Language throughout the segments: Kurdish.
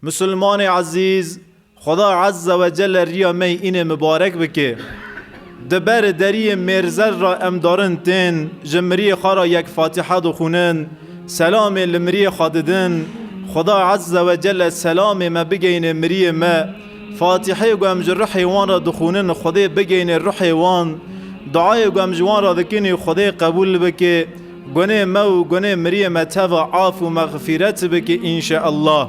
Musulmanê ezîz, Xweda Ezze ve Celle riya me yê înê mibarek bike. Di ber deriyê mêrzer ra em darin tên, ji miriyê xwe ra yek Fatiha dixwînin, selamê li miriyê xwe didin, Xweda Ezze ve Celle selamê me bigeyne miriyê me. Fatihê ku em ji ruhê wan ra dixwînin Xwedê bigeyne ruhê wan. Duayê ku em ji wan ra dikin ê Xwedê qebûl bike. Gunê me û gunê miriyê me teva af û mexfîret bike înşeallah.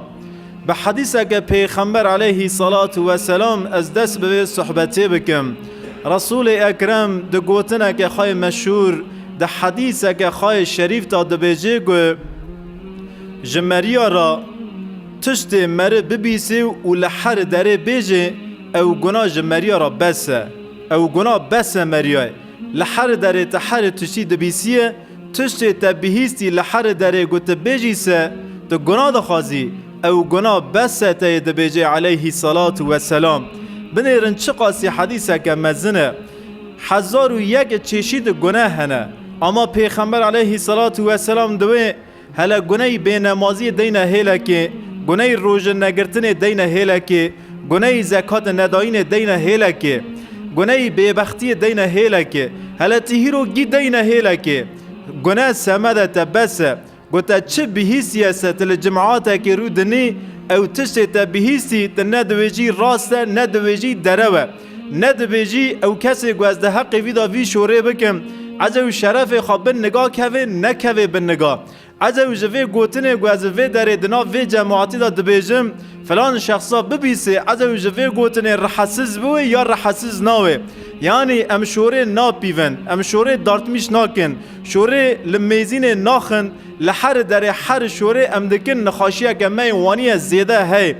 Bi hedîseke pêxember eleyhî selatu weselam ez dest bi vê suhbetê bikim. Resûlê Ekrem di gotineke xwe yê meşhûr, di hedîseke xwe yê şerîf de dibêje ku, Ji meriya re tiştê meri bibîsê û li her derê bêjê ew guna ji meriya re bes e. Ew guna bes e meriyayê. Li herî derê te herî tiştî dibîsiyê, tiştê te bihîstî li herî derê ku tu bêjî se, tu gunah dixwazî, ew gunah bes e teyê dibêjê eleyhî selatu we selam. Binêrin çiqasî hedîseke mezin e. Hezar û yek çeşîd guneh hene. Ama pêxember eleyhî selatu we selam di wê Hele guneyî bênemaziyê deyne hêlekê, guneyî rojin negirtinê deyne hêlekê, guneyî zekatê nedayînê deyne hêlekê, guneyî bêbextiyê deyne hêlekê, hele ti hîro gî deyne hêlekê. Gune semede te bes e. Ku te çi bihîstiye se ti li cim'atekê rû dinî, ew tiştê te bihîstî ti ne diwêjî rast e ne diwêjî derew e. Ne dibêjî ew kesê ku ez di heqê vî de vî şorê bikim, ez ew şerefê xwe bin niga kevê nekevê bin niga. Ez ew ji vê gotinê ku ez li vê derê di nav vê cemaatî de dibêjim filan şexsa bibîsê ez ew ji vê gotinê rihesiz biwê ya rihesiz nawê. Yanî em şorê napîvin, em şorê dartmîş nakin, şorê li mêzînê naxin, li heri derê heri şorê em dikin nixaşiyeke me yê waniye zêde hey.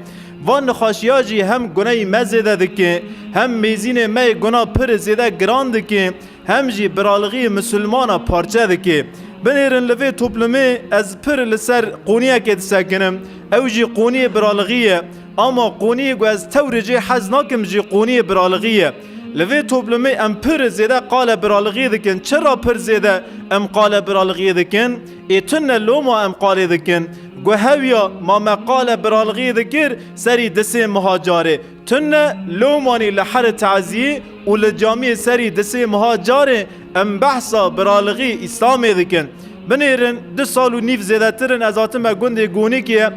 Van nexweşiya jî hem guneyî me zêde dike, hem mêzînê me yê guna pir zêde giran dike, hem jî biraligîyê misilmana parçe dike. Binêrin li vê toplumê ez pir li ser qûniyekê disekinim, ew jî qûniyê biraligî ye. Ama qûniyê ku ez tewrê cê hez nakim jî qûniyê biraligî ye. Li vê toplumê em pir zêde qale biraligî dikin. Çira pir zêde em qale biraligî dikin? Ê tune lo ma em qalê dikin. Gu hewya ma me qale biralgî dikir serî disê miha carê. Tune lomanî li here taziyê û li camiyê serî disê miha carê em behsa biralgî îslamê dikin. Binêrin du sal û nîv zêdetir in ez hatime gundê Gonikiyê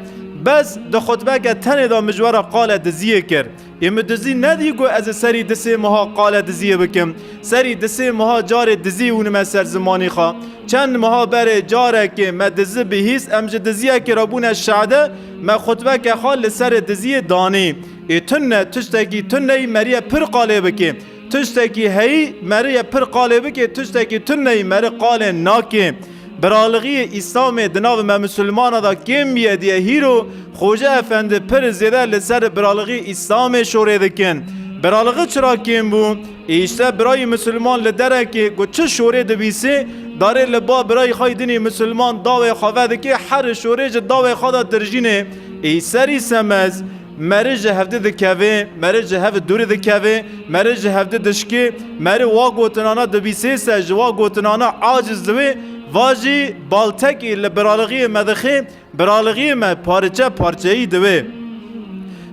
bes di xutbeke tenê de mijwara qale diziyê kir. Yê min dizî nedî ku ez ê serî di sê meha qale diziyê bikim. Serî di sê meha carê dizî hûnime ser zimanî xwe. Çend meha berê carekê me dizi bihîst em ji diziyekê re bûne şehde, me xutbeke xwe li serê diziyê danî. Ê tune tiştekî tuneyî meriye pir qalê bikê. Tiştekî heyî meriye pir qalê bikê, tiştekî tuneyî meri qalê nakê. Biralixiyê Îslamê di nav me Musulmanan de kêm bîye diye hîro Xoca Efendi pir zêde li ser biralixiyê Îslamê şorê dikin. Biralixi çira kêm bû? Îşte birayî Musulman li derekê ku çi şorê dibîsê darê li ba birayî xwe dinî Musulman dawê xwe vedikê herî şorê ji dawê xwe de tirjînê. Î serî semez. Meri ji hevdî dikevê, meri ji hev dûrî dikevê, meri ji hevdî dişkê, meri wa gotinana dibîsê se ji wa gotinana aciz diwê, va jî baltekî li biralixiyê me dixê, biralixiyê me pariçe parçeyî diwê.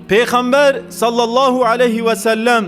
Pêxember sallallahu aleyhi wesellem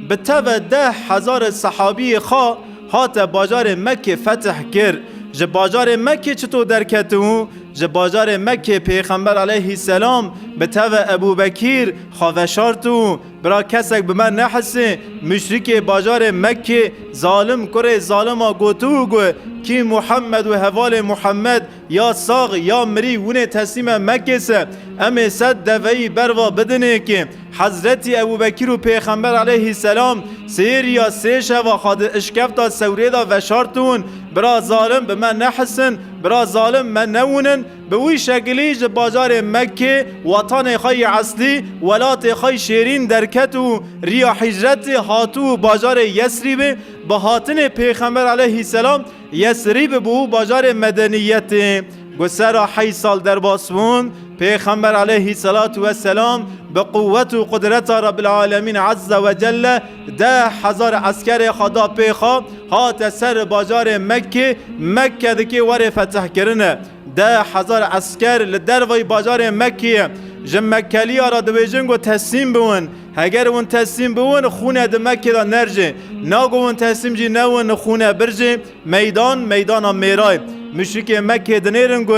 bi teve deh hezare sehabiyê xwe Hate bajarê Mekkê fetih kir. Ji bajarê Mekkê çito derketibû? Ji bajarê Mekkê Pêxember aleyhî selam bi tevê Ebû Bekîr xwe veşartibû, bira kesek bi me nehisê, muşrîkê bajarê Mekkê, zalim kurê zalima gotibû ku, Kî Muhemmed û hevalê Muhemmed Ya sax ya mirî winê teslîme Mekkê se, em ê sed deveyî ber va bidinê kê Hezretî Ebûbekîr û Pêxember aleyhîsselam sê rîya sê şeva xwe di işkefta sewrê de veşartûn, bira zalim bi me nehisin, bira zalim me newinin, bi wî şekilî ji bajarê Mekkê, wetanê xwe yê eslî, welatê xwe yê şêrîn derket û rîya hîcretê hatû û bajarê Yesrîbê bi hatinê Pêxember aleyhîsselam, Yesrîb bû bajarê medeniyetê. Ku sera heyî sal derbas bûn, Pêxember eleyhî selatû we selam bi quwet û qudreta Rebbil Alemîn Ezze we Celle deh hezar eskerê xwe da pê xwe, hate ser bajarê Mekkê, Mekke dikê were fetihkirine. Deh hezar esker li derveyî bajarê Mekkê ye. Ji Mekkeliya re dibêjin ku teslîm biwin. Heger win teslîm biwin xûne di Mekkê de nerjê, nago win teslîm jî newin xûne birjê, meydan meydana mêray. Muşrikê Mekkê dinêrin ku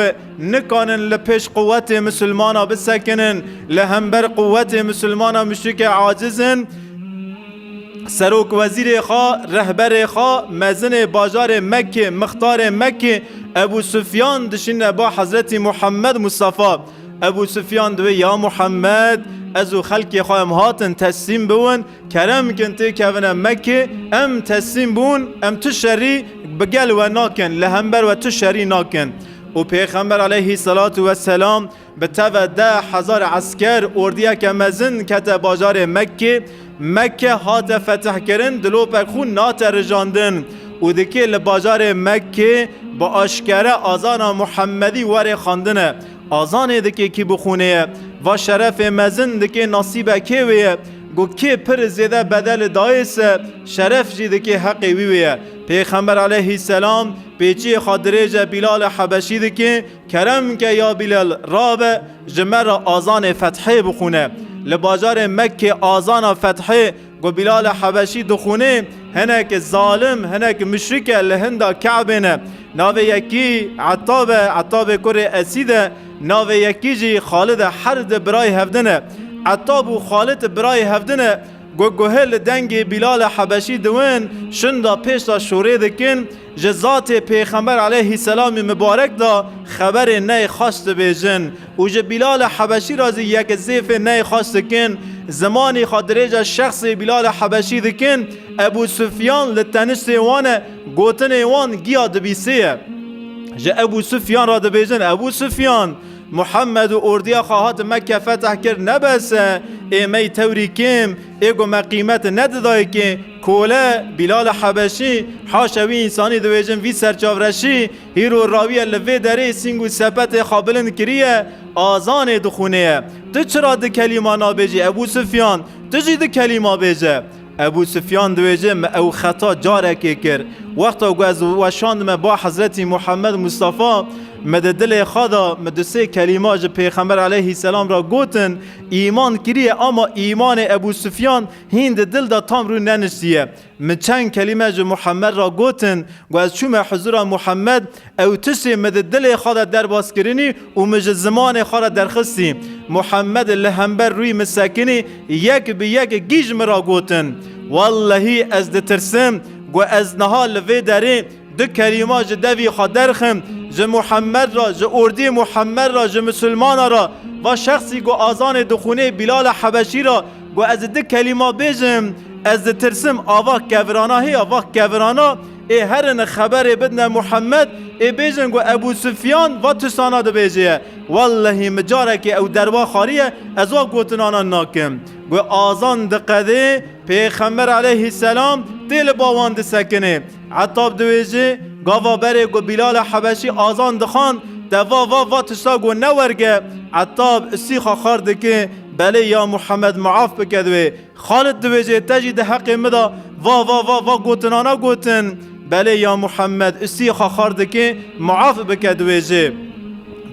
nikanin li pêş quwetê misilmana bisekinin, li hember quwetê misilmana muşrikê aciz in, serokwezîrê xwe, rehberê xwe, mezinê bajarê Mekkê, mixtarê Mekkê Ebû Sufyan dişîne bo Hezretî Muhemmed Mustafa. Ebû Sufyan diwê ya Muhammed ez û xelkê xwe em hatin teslîm biwin, kerem bikin têkevine Mekê, em teslîm bûn, em tu şerî bi gel we nakin, li hember we tu şerî nakin. û Pêxember aleyhî selatu weselam bi teve deh hezar esker ordiyeke mezin kete bajarê Mekkê, Mekke hate fetihkirin dilopek xûn nate rijandin û di kê li bajarê Mekkê bi aşkere azana Muhemedî warê xwendine. Azanê di kê kî bi xûnê ye? Va şerefê mezin di kê nasîbe kê wê ye? Got kê pir zêde bedeli dayê se şeref jî di kê heqê wî wê ye. Pêxember aleyhî selam pêçiyê xwe dirêje Bîlale Hebeşî di kê Kerem ke ya Bilal rabe ji me re azanê Fethê bixwîne. Li bajarê Mekkê azana Fethê ku Bilal Hebeşî dixwînê hinek zalim, hinek muşrike li hinda Kabê ne. Navê yekî Etab e, Etabê kurê Esîd e, navê yekî jî Xalid e her di birayê hevdin ne. Etab û Xalid birayê hevdin ne ku guhê li dengê Bilal Hebeşî diwin şinda pêşda şorê dikin, Ji zatê Pêxember aleyhî selamî mibarek de xeberê ney xweş dibêjin û ji Bîlali Hebeşî re zî yek zêfê ney xweş dikin. Zimanî xwe dirêja şexsê Bîlali Hebeşî dikin. Ebû Sufyan li teniştê wan e, gotinên wan giya dibîsê ye. Ji Ebû Sufyan re dibêjin, Ebû Sufyan! Muhemmed û ordiya xwe hatin Mekke feteh kir, ne bes e, ê mey tewrî kêm, Ê ku me qîmeti nedi dayikê kole Bîlali Hebeşî, haşa wî însanî dibêjin vî serçavreşî, hîr û rawîye li vê derê sîng û sepetê xwe bilind kirîye, azanê dixwînêye. Tu çira di kelîma nabêjî Ebû Sufyan, tu jî di kelîma bêje. Ebû Sufyan dibêje me ew xeta carekê kir. Wexta ku ez weşandime ba Hezretî Muhemed Mustafa, me di dilê xwe de, me du sê kelîma ji Pêxember Eleyhî Selam re gotin, Îman kiriye ama îmanê Ebû Sufyan hîn di dil de tam rû neniştiye. Min çend kelîme ji Muhemmed re gotin, ku ez çûme hizûra Muhemmed, ew tiştê min di dilê xwe de derbas kirinî û min ji zimanê xwe re derxistî. Muhemmed li hember rûyê min sekinî, yek bi yek gîj min re gotin. Wellehî ez ditirsim, ku ez niha li vê derê Du kelîma ji devî xwe derxin, ji Muhemed re, ji ordî Muhemed re, ji misilmanan re. Va şexsî got azanê dixwînê Bîlala Hebeşî re, got ez di du kelîma bêjim, ez ditirsim a va kevirana hê, a va kevirana ê herine xeberê bidine Muhemed ê bêjin got Ebû Sufyan va tirsana dibêje ye. Wellehî min carekê ew derwa xwariye, ez va gotinana nakim. Got azan diqedê, pêxember eleyhî selam tê li ba wan disekinê. Etab diwêjî, Gava berê ku Bîlala Hebeşî azan dixwand, te va va va tişta ku ne werge. Etab Îsîxa xar dike, Belê ya Muhemed maaf bike di wê. Xalid diwêjê, Te jî di heqê min de va va va va gotinana gotin. Belê ya Muhemed Îsîxa xar dike, Maaf bike diwêjê.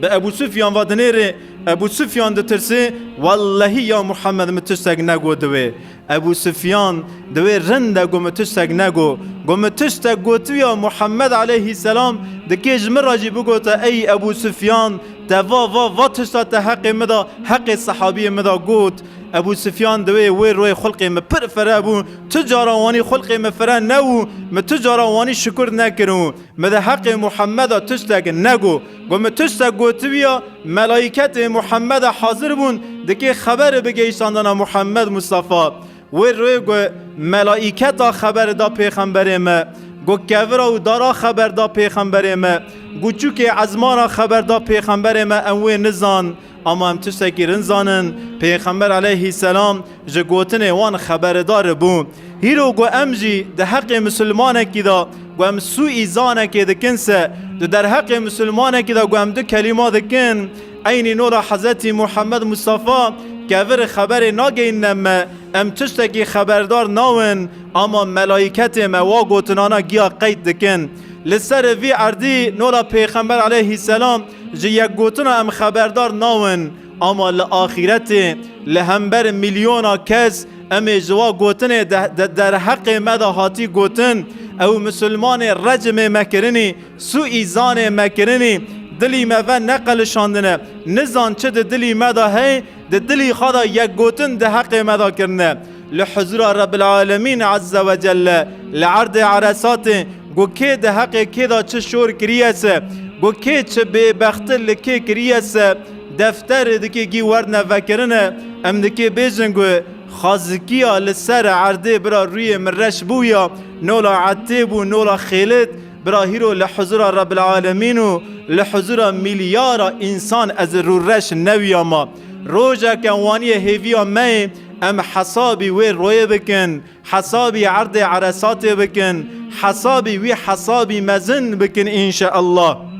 Bi Ebû Sufyan ve dinêrê. Ebû Sufyan ditirse, Wellehî ya Muhemed min tiştek negot di wê. Ebû Sufyan di wê rind de got min tiştek negot. Got min tiştek gotiya Muhammed aleyhî selam dikê ji min re jî bigota ey Ebû Sufyan te va va va tişta te heqê min da heqê sehabiyên min da got. Ebû Sufyan di wê wê royê xulqê min pir fire bû. Tu cara wanî xulqê min fire nebû. Min tu cara wanî şikur nekir û. Mi di heqê Muhammeda tiştek negot. Got min tiştek gotibiya, melaîketê Muhammeda hazir bûn, dikê xeberi bigeyşandana Muhammed Mustafa. Wê rê got melaîketa xeberi da pêxemberê me. Got kevira û dara xeber da pêxemberê me. Got çûkê ezmana xeber da pêxemberê me em wê nizan. Ama em tiştekî rind zanin, Pêxember aleyhî selam ji gotinê wan xeberedar bû. Hîro ku em jî di heqê misilmanekî de ku em sûîzanekê dikin se, di derheqê misilmanekî de ku em du kelîma dikin, eynî nora Hezretî Muhammed Mustafa kevir xeberê nageyînine me, em tiştekî xeberdar nawin, ama melaîketê me wa gotinana giya qeyd dikin. Li ser vî erdî nora Pêxember aleyhî selam, Ji yekgotina em xeberdar nawin ama li axîretê li hember milyona kes em ê ji wa gotinê de derheqê me de hatî gotin, ew misilmanê recimê me kirinî, sûîzanê me kirinî, dilî me ve neqelişandine, nizan çi di dilî me de hey, di dilî xwe de yekgotin di heqê me de kirine. Li huzûra Rebbil Alemîn Ezze ve Celle li erdê Eresatê ku kê di heqê kê de çi şor kiriye se, ku kê çi bêbexti li kê kiriye se, defterê dikê gî werne vekirine, em dikê bêjin ku xazikiya li ser erdê bira rûyê min reş bû ya nola Etê bû nola Xêlit, bira hîro li huzûra Rebbil Alemîn û li huzûra mîlyara însan ez rûreş newiyama. Rojeke waniye hêviya me yê. Em hesabî wê royê bikin, hesabî erdê Eresatê bikin, hesabî wî hesabî mezin bikin înşeellah.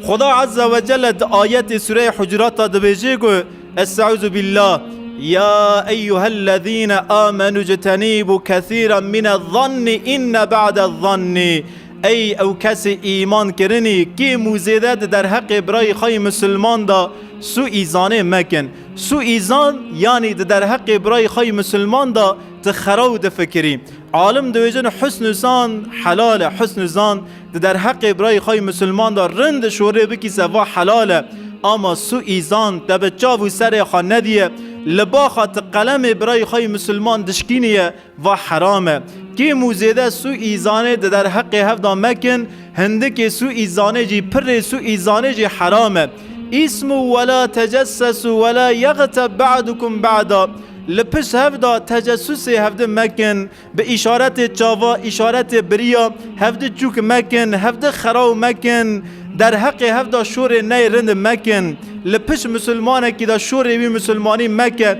Xuda Azze ve Celle di ayetê Sûreyê Hucurat de dibêje ku Est'ûzu billah Ya eyyuhellezîne amenû citenîbû kesîran minezzannî inne ba'dezzannî Ey ew kesê îman kirinî kêm û zêde di derheqê birayê xwe yê misilman de sûî zanê mekin. Suîzan yanî di derheqê birayê xwe yê misilman de tu xera û difikirî. Alim diwêjin husn û zan helal e. Husn û zan di derheqê birayê xwe yê misilman de rind di şorê bikî se va helal e. Ama suîzan te bi çav û serê xwe nediye. Li ba xwe tu qelemê birayê xwe yê misilman dişkînî ye Va heram e. Kêm û zêde sûîzanê di derheqê hev de mekin, hindikê sûîzanê jî pirrê sûîzanê jî heram e. Îsmû we la tecessesû we la yexteb be'dukum be'da. Li pişt hev de tecessûsê hevdi mekin, bi îşaretê çava, îşaretê biriya, hevdi çûk mekin, hevdi xeraw mekin, derheqê hev de şorê ney rind mekin. Li pişt misilmanekî de şorê wî misilmanî meke.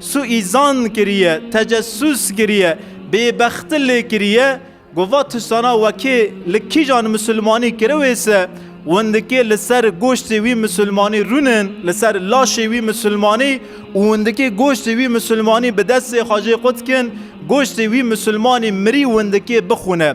Suîzan kiriye, tecessûs kiriye, bêbexti lê kiriye, gova tisana wekê li kîjan misilmanî kiriwê se, windikê li ser goştê wî misilmanî rûnin, li ser laşê wî misilmanî û windikê goştê wî misilmanî bi destê xwe jê qut kin, goştê wî misilmanî mirî windikê bixwine.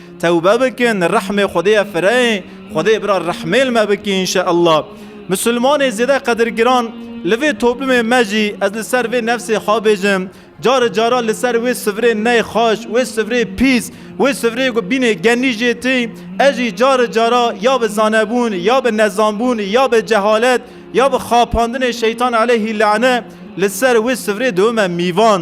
Tewbe bikin rehmê Xwedê ye fireyê, Xwedê bira rehmê li me bike înşeellah. Misilmanê zêde qedirgiran li vê toplumê me jî ez li ser vê nefsê xwe bêjim, cari cara li ser wê sivirê ney xweş, wê sivirê pîs, wê sivirê ku bînê genî jê tê, ez jî cari cara ya bi zanebûn, ya bi nezanbûn, ya bi cehalet, ya bi xapandinê şeytan eleyhî lane li ser wê sivirê dibime mîvan.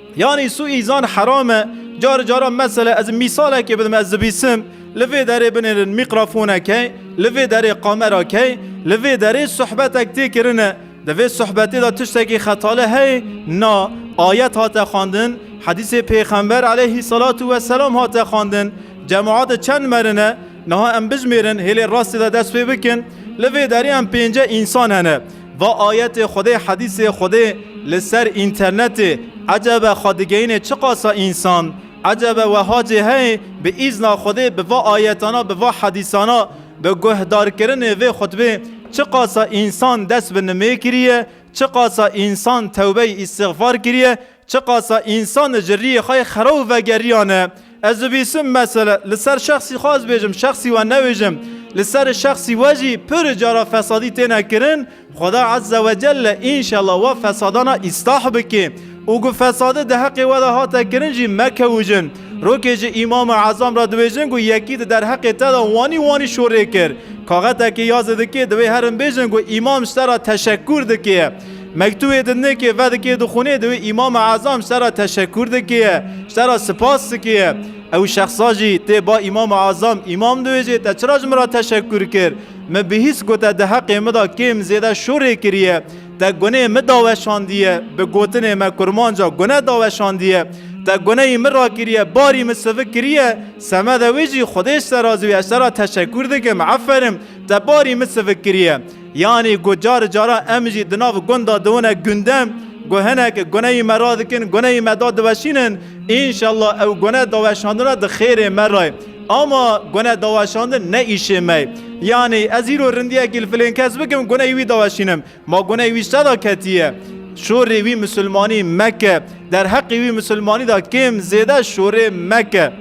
Yanî su îzan heram e. Cari caran mesele ez mîsalekê bidim ez dibîsim li vê derê binêrin mîkrafoneke, li vê derê kamerake, li vê derê suhbetek tê kirine. Di vê suhbetê de tiştekî xetali heye? Na. Ayet hate xwendin, hedîsê pêxember eleyhî selatu weselam hate xwendin. Cemaate çend merin e? Niha em bijimêrin hêlê rastê de dest pê bikin. Li vê derê em pênce însan hene. Va ayetê Xwedê hedîsê Xwedê li ser înternetê ecebe xwe digeyînê çiqasa însan. Ecebe weha cê heye bi îzna Xwedê bi va ayetana bi va hedîsana bi guhdarkirinê vê xutbê çiqasa însan dest bi nimê kiriye, çiqasa însan tewbeyî îstixfar kiriye, Çiqasa însan ji riyê xwe yê xera û vegeriyan e. Ez dibîsim mesele li ser şexsî xwe ez bêjim, şexsî we nebêjim. Li serê şexsî we jî pirr cara fesadî têne kirin. Xweda Ezze we Celle înşella wa fesadana îstah bike û ku fesadi di heqê we de hate kirin jî mekewujin. Rokê ji Îmama Ezam re dibêjin ku yekî di derheqê te de wanî wanî şorê kir. Kaxetekê ya zidikê divê herin bêjin ku Îmam ji te re teşekkûr dike. Mektûbê di nikê vedikê dixwînê di wê Îmam-i Ezam ji te re teşekkûr dike, ji te re sipas dike. Ew şexsa jî tê ba Îmam-i Ezam, Îmam diwêjê te çira ji min re teşekkûr kir? Min bihîst ku te di heqê min de kêm zêde şorê kiriye. Te gunê min daweşandiye, bi gotinê me kurmanca gune daweşandiye. Te guneyî min rakiriye, barî min sivik kiriye. Semede wê jî Xwedê ji te razî be, ji te re teşekkûr dikim, eferim, te barî min sivik kiriye. Yanî ku cari cara em jî di nav gunda diwine gunde, ku hinek guneyî me radikin, guneyî me da diweşînin, înşellah ew gune daweşandina di xêrê me re ye. Ama gune daweşandin ne îşê me ye. Yanî ez îro rindiyekî li filên kes bikim, guneyî wî daweşînim. Ma guneyî wî ji te da ketiye. Şorê wî misilmanî meke. Derheqê wî misilmanî da kêm zêde şorê meke.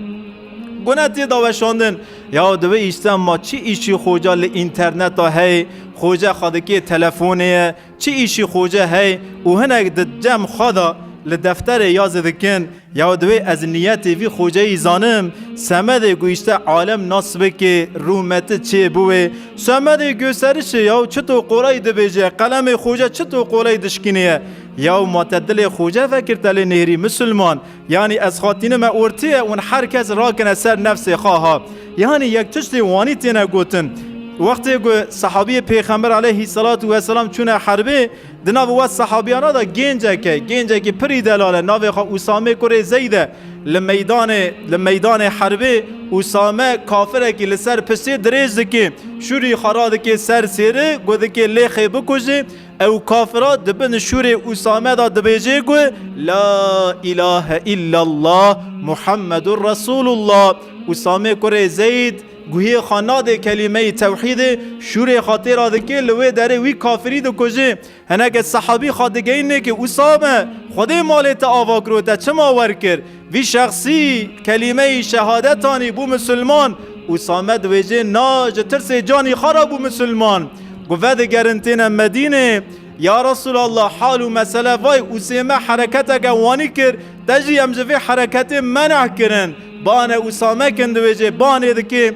Gune tê daweşandin. Ya divê îşten ma çi îşî xoca li înterneta heyê, xoca xadikê telefonê ye, çi îşî xoca heyê û hinek di cem xada li defterê ya zî dikin. Ya divê ez niyetê vî xoceyî zanim. Semedê ku îşte alem nas bikê, rûmeti çê biwê. Semedê guserişê ya çito qoleyî dibêje, qelemê xoca çito qoleyî dişkinîye. Ya ma te dilê xoca vekir te lê nêrî misilman. Yanî ez xwatinime ortiyê û her kes rakine ser nefsê xwe ha. Yanî yek tiştê wanî têne gotin. Wextê ku sehabiyê Pêxember aleyhî selatû weselam çûne herbê, di nav we sehabiyana de gêncek e, gêncekî pirî delal e, navê xwe Usamê kurê Zeyd e. Li meydanê li meydanê herbê Usame kafirekî li ser pisê dirêj dikê, şûrî xwe radikê ser sêri, got dikê Lêxê bikujê, Ew kafira di bin şûrê Usame de dibêje ku La ilahe illallah Muhammedur Resulullah Usame kurê Zeyd guhê xwe nadê kelîmeyê tewhîdê şûrê xwe têra dike li wê derê wî kafirî dikuje. Hineke sehabî xwe digeyîne ku Usame xwedê malê te ava kiro te çima werkir? Vî şexsî kelîmeyî şehadet anî bû misilman û Samed wêjê na ji tirsê canî xwe re bû misilman. Ku vedigerin têne Medînê, Ya Resûlallah hal û mesele vay Ûsême hereketeke wanî kir, te jî em ji vê hereketê meneh kirin. Bane Ûsame kin diwêjê banê dikê,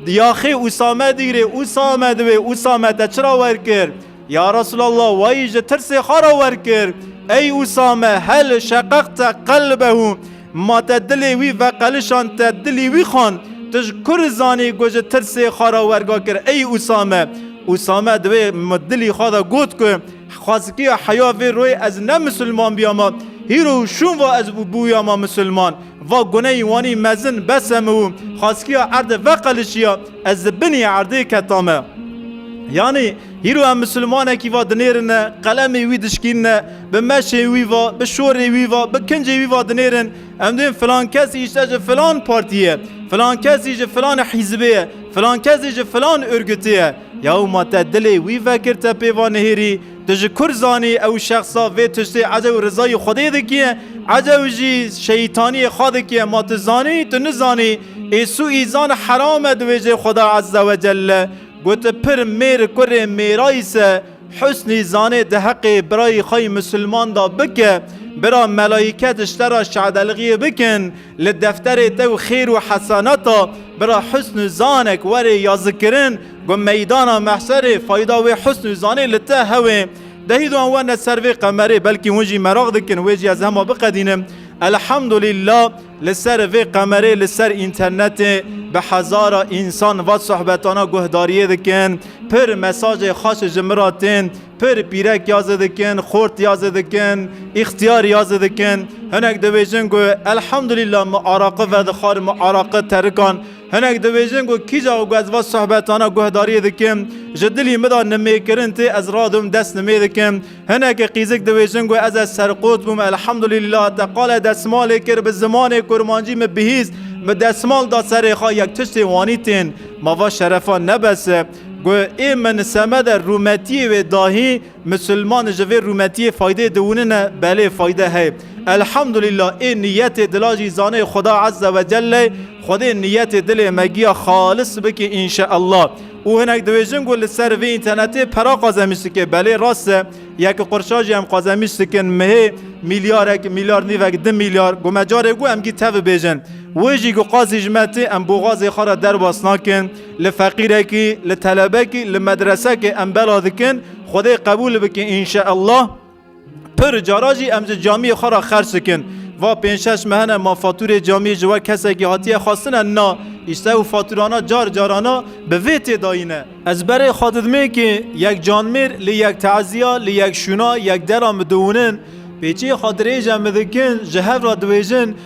Diyaxê Ûsame dîgrê Ûsame diwê Ûsame te çira wer kir? Ya Resûlallah we yî ji tirsê xwe re wer kir. Ey Usame, hel, şeqeq te qelbehu, ma te dilê wî veqelişand, te dilî wî xwend. Tu ji ku re zanî ku ji tirsê xwe re werga kir ey Usame? Usame di wê dilî xwe de got ku xwezikiya heya vê royê ez ne misilman bîyama, hîro û şûnva ez bûyama misilman. Va guneyî wanî mezin besemu û xwezikiya erdê veqelişiya ez li binî erdê ketame. Yanî Hîro em misilmanekî va dinêrine, qelemê wî dişkînine, bi meşê wî va, bi şorê wî va, bi kincê wî va dinêrin, em duyên filan kesî îşte ji filan partî ye, filan kesî ji filan hîzbê ye, filan kes jî ji filan urgutê ye. Ya û ma te dilê wî vekir te pê va nihêrî, tu ji kur zanî ew şexsa vê tiştê ecew rizayî Xwedê dikiye, ecew jî şeytaniyê xwe dikiye, ma tu zanî, tu nizanî, êsû îzan heram e di wêjeyê Xweda Ezze Wecelle. Got pir mêr kurê mêrayî se Husnî zanê di heqê birayî xwe yî misilman de bike, bira melayîke diştera şadelxîyê bikin, li defterê te û xêr û heseneta bira Husn û zanek were yazikirin ku meydana mehşerê fayda wê husn û zanê li te hewê. Dehî di wan werne ser vê qemerê belkî hûn jî meraq dikin wê jî ez hema biqedînim. Elhemdulîla. Li ser vê qemerê li ser înternetê bi hezara însan va sohbetana guhdariyê dikin, pir mesajê xweş ji min ra tên, pir pîrek ya zi dikin, xort ya zi dikin, îxtiyar ya zi dikin. Hinek dibêjin ku elhamdulîla min araqi vedixwar, min araqi terikan. Hinek dibêjin ku kîja ku ez va sohbetana guhdariyê dikim, ji dilî min de nimêkirin tê, ez radom dest nimê dikim. Hinekî qîzik dibêjin ku ez ez serqot bûm elhamdulîllah te qale desmalê kir bi zimanê kurmancî min bihîst min desmal da serê xwe yek tiştê wanî tên ma va şerefa nebese ku ê min semede rûmetiyê wê dahî misilman ji vê rûmetiyê faydê diwinine belê fayde heye elhamdulîllah ê niyetê dila jî zanê xuda ezze wecelle xwedê niyetê dilê me giya xalis bike înşeellah. Û hinek dibêjin ku li ser vê înternetê pera qazemîş dike. Belê rast e. Yek qirşa jî em qazemîş dikin. Mihê mîlyarek, mîlyar nîvek, di mîlyar. Ku me carê ku em gî tevî bêjin. Wê jî ku qazî ji me tê em boxazê xwe re derbas nakin. Li feqîrekî, li telebekî, li medresekê em bela dikin. Xwedê qebûl bike înşeellah. Pir cara jî em ji camiyê xwe re xerç dikin. Va pênc şeş mehene ma fatûrê camiyê ji we kesekî hatiye xwestine na. Îşte û fatûrana car carana bi vê tê dayîne. Ez berê xwe didimê kê yek canmêr li yek teziya, li yek şûna, yek dera midûnin. Pêçiyê xwe dirêj e midikin, ji hev re diwêjin,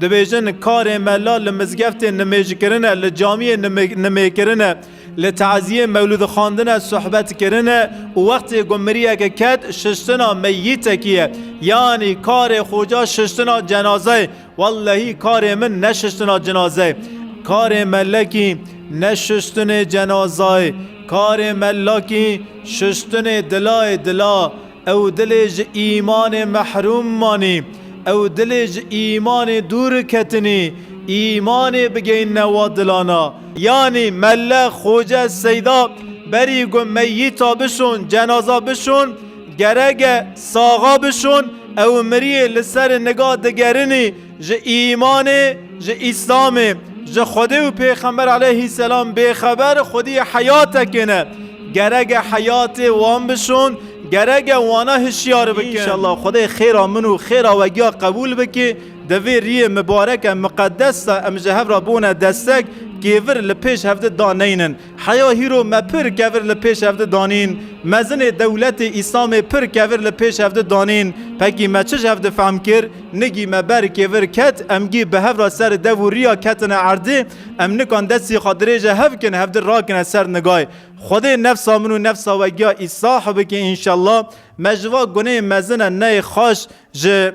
Dibêjin karê mela li mizgeftê nimê ji kirin e, li camiyê nimê kirin e, li teziyê mewlûd xandin e sohbet kirin e û wextê ku miriyeke ket şiştina meyîtekî ye. Yanî karê xoca şiştina cenazeyê. Wellehî karê min ne şiştina cinazeyê. Karê melekî ne şiştinê cenazayê. Karê melakî şiştinê dilayê dila. Ew dilê ji îmanê mehrûm manî, ew dilê ji îmanê dûr ketinî, îmanê bigeyîne wa dilana. Yanî melle, xoce, seyda berî got meyîta bişon, cenaza bişon, gerek e saxa bişon, ew miriyê li ser niga digerin î, Ji îmanê, ji îslamê, ji Xwedê û pêxember aleyhîsselam bêxeber xwediyê heyatekê ne. Gerek e heyatê wan bişon, gerek e wana hişyar bikin. Înşallah Xwedê xêra min û xêra we giya qebûl bike. Di vê riyê mibareke miqedes de em ji hev re bûne destek, kêvir li pêş hevdi daneynin. Heya hîro me pir kevir li pêş ev di danîn, mezinê dewletê îslamê pir kevir li pêş ev di danîn, pekî me çi ji hev difehm kir, nigî me ber kêvir ket, em gî bi hev ra ser dev û riya ketine erdê, em nikan destî xwe dirêje hev kin hev di rakine ser nigay. Xwedê nefsa min û nefsa we giya îsah bike înşellah, me ji va guneyê mezine neyê xaş ji.